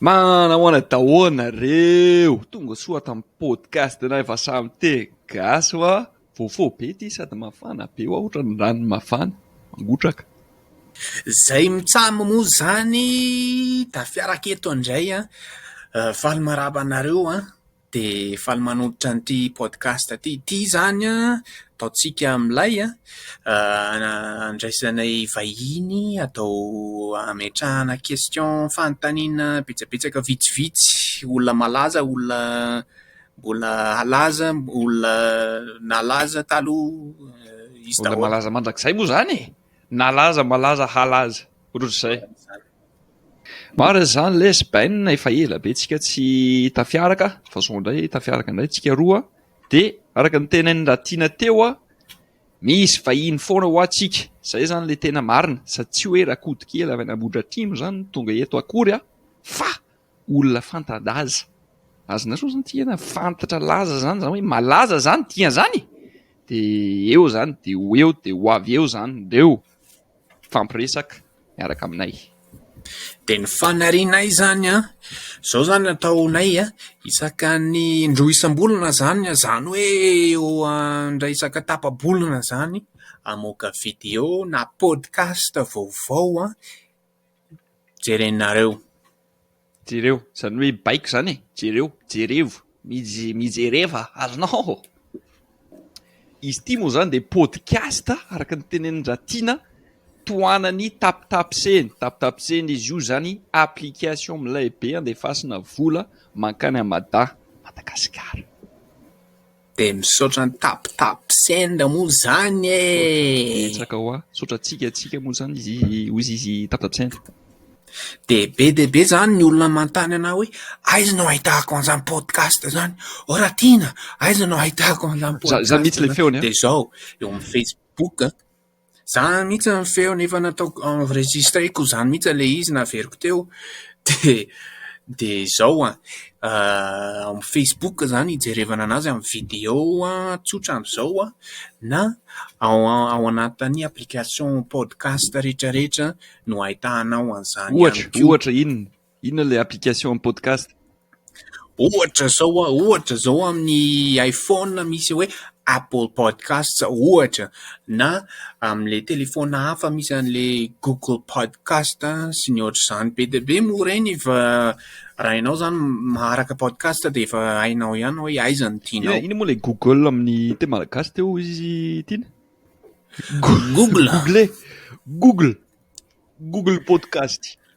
Manahoana daholo nareo, tonga soa tam podcast nay fa samy te gasy wa, voafo be ty sady mafana be wa otrany rano mafana, mangotraka. Zay mitsam mo zany da fiaraka eto ndray an! Faly maraba anareo an! dia faly manolotra an'ity podcast ity. Ity izany an, ataontsika milay an, andraisanay vahiny atao hametrahana question, fanontaniana betsabetsaka vitsivitsy, olona malaza, olona mbola halaza, olona nalaza taloha, izy daholo. Olona malaza mandrakizay moa izany e! Nalaza, malaza, halaza, ohatr'izay. Marina izany lesy Ben a, efa ela be tsika tsy tafiaraka fa zao indray tafiaraka indray tsika roa de araka ny tenain'i Ratina teo a, misy vahiny foana ho antsika, izay izany le tena marina sady tsy hoe Rakotonkely avy any Ambohidratrimo izany no tonga eto akory a, fa olona fanta-daza, azy nareo izany tiana fantatra laza izany izany hoe malaza izany tian'izany e, de eo izany de ho eo de ho avy eo izany ndreo. mifampiresaka miaraka aminay. Dia ny fanarianay izany an, izao izany ataonay an, isakan'ny indroa isam-bolana izany, izany hoe eo indray isaka tapa-bolana izany, hamoaka video na podcast vaovao jerenareo. Jereo, izany hoe baiko izany e! Jereo, jerevo, mije, mijereva, azonao ô! Izy ity moa izany dia podcast araka ny tenenin-dRatiana tohanany tapitapsehiny, tapitapsehiny izy io izany application milay be andefasina vola mankany amin'i Mada, Madagasikara. Dia misaotra an'i TapTapSend moa izany e! Misaotra betsaka hoa, misaotra antsika antsika moa izany izy hoy izy TapTapSend. Dia be dia be izany ny olona manontany anah hoe aiza no ahitako an'izany podcast izany? Oh Ratiana, aiza no ahitako an'izany podcast izany? Dia izao, eo amin'ny Facebook, Zany mihitsy ny feony efa nataoko enregistreko zany mihitsy ilay izy naveriko teo dia dia izao an! amin'ny facebook zany hijerevana an'azy amin'ny video tsotra amin'izao an! na ao ao anatin'ny application podcast rehetra rehetra no ahitanao an'izany ihany koa. Ohatra, ohatra inona? Inona ilay application amin'ny podcast? Ohatra zao hoa, ohatra zao amin'ny iPhone misy hoe Apple Podcasts ohatra, na amin'ilay telefaona hafa misy an'ilay Google Podcast sy ny ohatr'izany. Be dia be moa ireny fa raha ianao izany maharaka podcast dia efa hainao ihany hoe aiza no tianao. Inona moa ilay Google amin'ny teny malagasy teo izy tiana? Google. Google. Google. Google Podcast.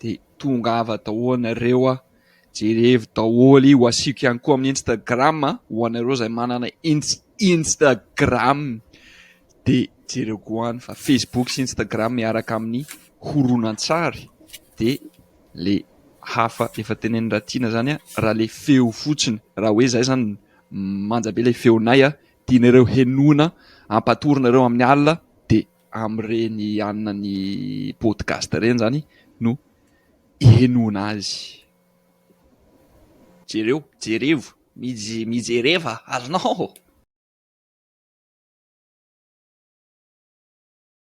de tongava daholo nareo a, jerevo daholo io, asiako ihany koa amin'ny instagram a, ho anareo zay manana instagram de jereo koa any fa facebook sy instagram miaraka amin'ny horonantsary de le hafa efa tenenin'i Ratiana zany a, raha le feo fotsiny, raha hoe zay zany manja be le feonay a, tianareo henoina ampatorina reo amin'ny alina de amin'ireny hanina ny podcast ireny izany no hihenoana azy. Jereo, jerevo, mijereva ary nao.